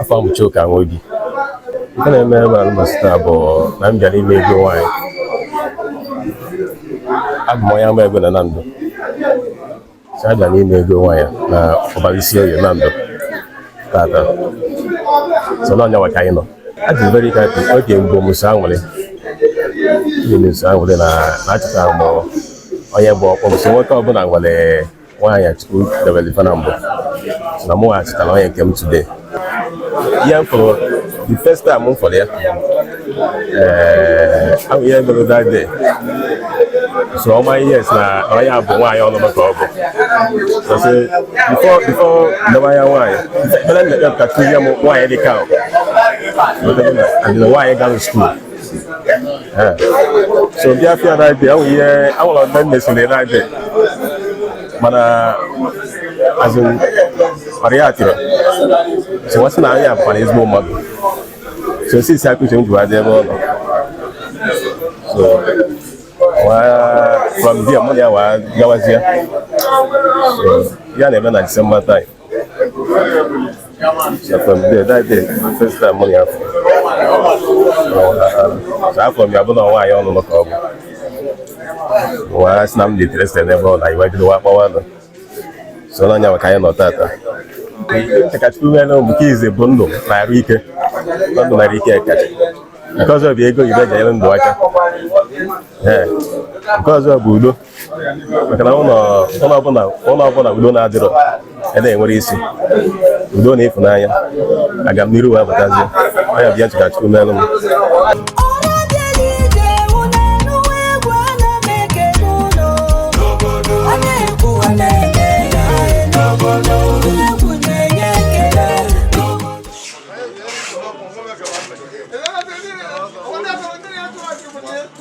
afọ m bụ Chuka Nwobi nke na-eme ebe alụmasị taa bụ na m bịara ime ego nwaanyị abụ m onye ama ego na Nando si abịa n'ime ego nwaanyị na Ubarunisioye Nando tata so na ọ nya nwa ka anyị nọ adị m very happy oge mbụ m so anwụrị ihe m so anwụrị na achọtara m onye bụ ọkpọ m so nwoke ọbụla nwere nwaanyị chukwu debere ife na mbụ na mụ achịtara onye nke m today yeah for the first time m fụrụ ya ee ahụ ihe mere that day so ọma ihe si na onye a bụ nwaanyị ọlụlụ ka ọ bụ so since before before ndebe anya nwaanyị ekpere m na-ekpe ka tụzie m nwaanyị dị ka ahụ adịna nwaanyị gara school so bịa fụ ya that day ahụ ihe awụlọ ndị m mesịrị that day mana azụ mara ya atịrị so wa sị na onye a bụkwa ezigbo mmadụ so since a ka uche m ji wa dị ebe ọ nọ so from there mụ na ya wee gawazie ya na-eme na December time afụ m ya bụ na nwaanyị ọnụnụ ka ọ bụ m wa sị na m dị interested n'ebe ọ nọ e wee bido wa kpọwa nụ so na ọ nya nwa ka anyị nọ tata chọ ka chukwu meere m bụ nke izizi bụ ndụ na arụ ike ndụ na arụ ike kacha nke ọzọ bụ ego ife e ji nyere ndụ aka nke ọzọ bụ udo maka na ụlọ ọbụla ụlọ ọbụla udo na-adịrọ ya na-enwerọ isi udo na ịfụnanya agamniru wee batazie ọ nya bụ ihe m chọ ka chukwu melu m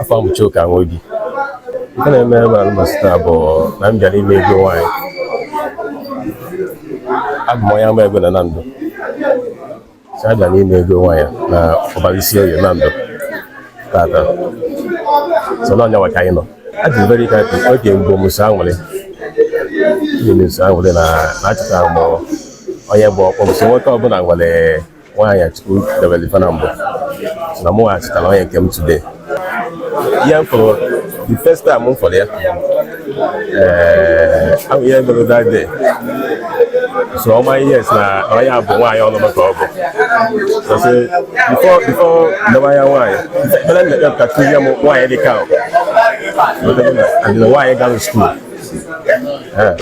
afọ m Chuka Nwobi nke na-eme ebe alụmasị taa bụ na m bịara ime ego nwaanyị abụ m onye ama ego na Nando si abịa na ime ego nwaanyị na Ubarunisioye Nando tata so na ọ nya nwa ka anyị nọ adị m very happy oge mbụ m so anwụrị ihe m so anwụrị na achọtara m onye bụ ọkpọ m so nwoke ọbụla nwere nwaanyị chukwu debere ife na mbụ na mụ achịtara onye nke m today yeah for the first time m fụrụ ya ee ahụ ihe mere that day so ọma ihe si na onye a bụ nwaanyị ọlụlụ ka ọ bụ so since before before ndebe anya nwaanyị ekpere m na-ekpe ka kụzie m nwaanyị dị ka ahụ adịna nwaanyị gara school Eh.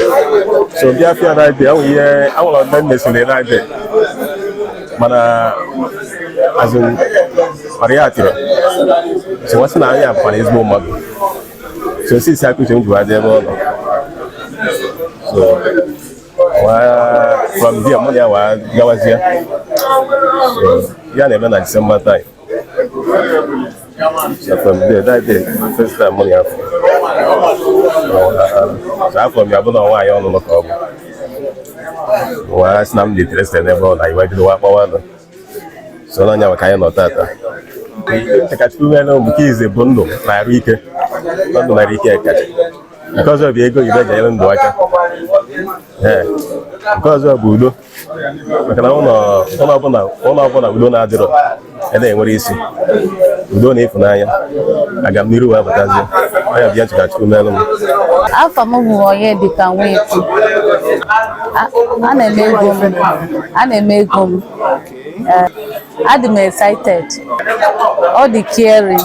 so bịa fịa na ide ahụ ihe awụlọ ndị m mesịrị na ide mana azụ mara ya atịrị so wa sị na anyị abụkwara ezigbo mmadụ so since a ka uche m jụrụ adị ebe ọ nọ so from there mụ na ya wee gawazie ya na-eme na December time afụ m ya bụ na nwaanyị ọnụnụ ka ọ bụ wee sị na m dị interested n'ebe ọ nọ e wee bido wa kpọwa nụ so n'anya maka anyị nọ tata Chakachukwu nwere omuke ize bụ ndụ na arụ ike ndụ na arụ ike kacha nke ọzọ bụ ego ibe ji elu ndụ aka nke ọzọ bụ udo maka na ụlọ ọbụla ụlọ ọbụla udo na-adịrọ ya na-enwere isi udo na ịfụnanya agamniru wee batazie anya bịa chika chukwu melu m afa m bụ Onyedịka nwetu a na-eme ego m a na-eme ego m eh, adị m excited ọ dị caring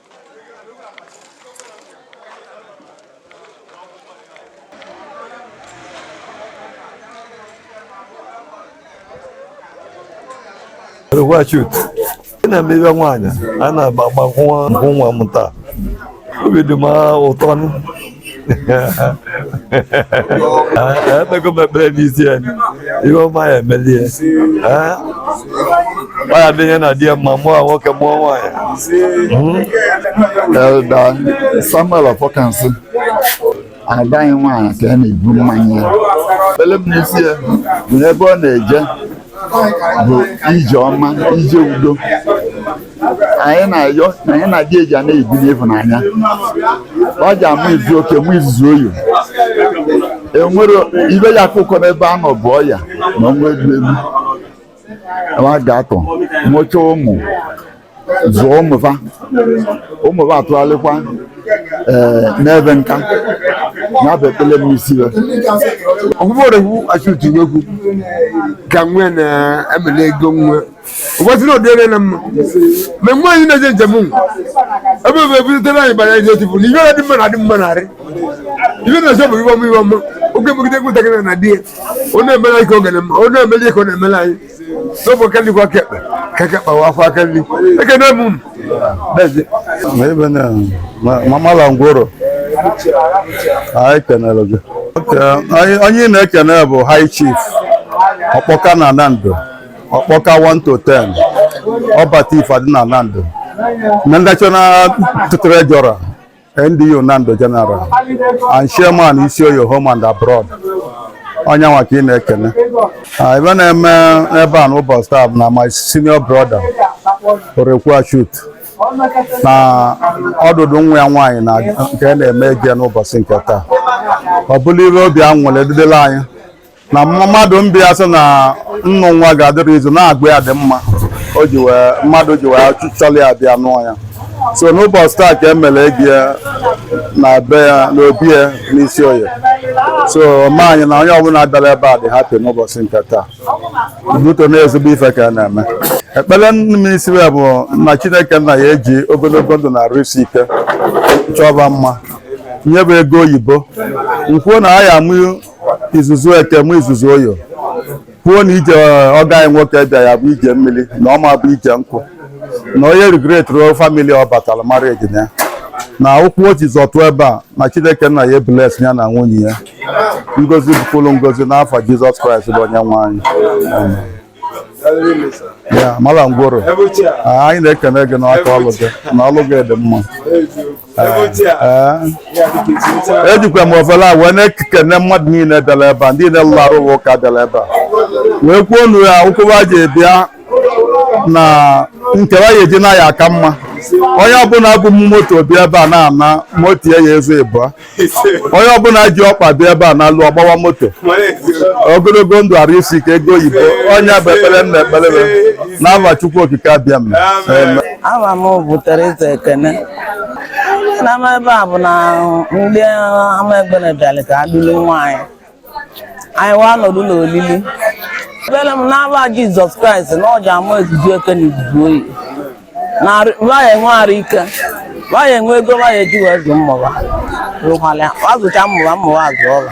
Wachut ị na-emebe nwaanyị a na-agba nkwụ nwa m taa obi dị m ụtọ ekpego m ekpere n'isi ya ihe ọma ya-emeli ya ọ ya-adị ya na di ya mma mụọ nwoke mụọ nwaanyị Elder Samuel Ọfọkansị ada anyị nwaanyị ka a na-ebu mmanya ya ekpere m n'isi ya bụ ebe ọ na-eje bụ ije ọma ije udo anyị na-ayọ na ya na di ya ja na-ebi n'ịhụnanya wa ja-amụ izu oke mụ izu oyi enwere ibe ya akụkọ n'ebe a nọ bụ ọya na ọnwa elu elu wa ga-atọ mụcha ụmụ zụọ ụmụ fa ụmụ fa atụgharịkwa ee n'ebe nka ya bụ ekpele m n'isi ya ọgwụgwọ ọregwu achụtụnegwu ka nwe na-emele ego nwe ụbọchị na ọdịrị na mma mgbe mgbe anyị na-eje njem ụmụ ebe ebe ebuzitere anyị bara ije tipu na ihe na-adị mma na-adị mma narị ihe na-eche bụ ihe ọma ihe ọma ọ ga-emegide nwatakịrị na di ya ọ na-emere anyị ka oge na mma ọ na-emere ya ka ọ na-emere anyị n'ofe aka nri kwọọ aka ekpe ka aka ekpe wa akwọ aka nri ekene m unu Dazie. Ebe na ma- mamala ngworo anyị kenere gị Oke, anyị- onye ị na-ekene bụ high chief Ọkpọka na Nando ọkpọka 1 to 10 ọbata ife adị na nando na national treasurer ndu nando general and chairman isi oye home and abroad onye nwa ka ị na-ekene Ah, ife na-eme n'ebe a n'ụbọchị taa bụ na my senior brother orekwu shut na ọdụdụ nwa ya nwaanyị na nke a na-eme eje n'ụbọchị nke taa ọ bụlụ ife obi anwụlị edidela anyị na mmadụ mbịa sị na nnụ nwa ga-adịrị izu na agwa ya dị mma o ji wee mmadụ ji wee chọrọ ya bịa nụọ ya so n'ụbọchị taa ka emere egi ya na be ya na obi ya n'isi oye so ma anyị na onye ọbụla bịara ebe a dị hapi n'ụbọchị nke taa buto na ezigbo ife ka a na-eme ekpere m n'isi ya bụ na chineke nna ya-eji ogologo ndụ na arụ isi ike chọọ va mma nye va ego oyibo m kwuo na a ya-amụ izuzu eke mụọ izuzu oye kwuo na ije ọgọ anyị nwoke bịa ya-abụ ije mmiri na ọ ma bụ ije nkụ na onye rigretro famili ọ batara mara ejina ya na ụkwụ o ji zọtụ ebe a na chineke nna ya-ebless ya na nwunye ya ngozi bụkwuru ngozi n'afa jizọs kraịst bụ onye nwe anyị Amen. ya mala ngworo ah, anyị na-ekene gị n'aka ọlụ gị na ọlụ gị dị mma ejikwa eh, eh. e m ofele a wee na-ekene mmadụ niile bịara ebe a ndị niile lụrụ arụ ụka bịara ebe a wee kwuo na ụkwụ wa ji bịa na nke wa ya-eji naa ya-aka mma onye ọbụla bu moto bịa ebe a na-ana moto ya ya-ezu ịbụa onye ọbụla ji ọkpa bịa ebe a nalue ọ gbawa moto ogologo ndụ arụ isi ike ego oyibo ọ nya bụ ekpere m na-ekpere n'afa Chukwu Okike Abịama aha m bụ Teresa Ekene na-eme ebe a bụ na ndị ama egbene bịara ka a dulu nwaanyị anyị wee nọdụ n'olili ekpere m n'afa jizọs kraịst na ọ ja-amụ izuzu eke na izuzu oye na va ya-enwe arụ ike va ya-enwe ego va ya-eji wee zụọ ụmụ va rụkwala azụcha ụmụ va ụmụ va azụọ va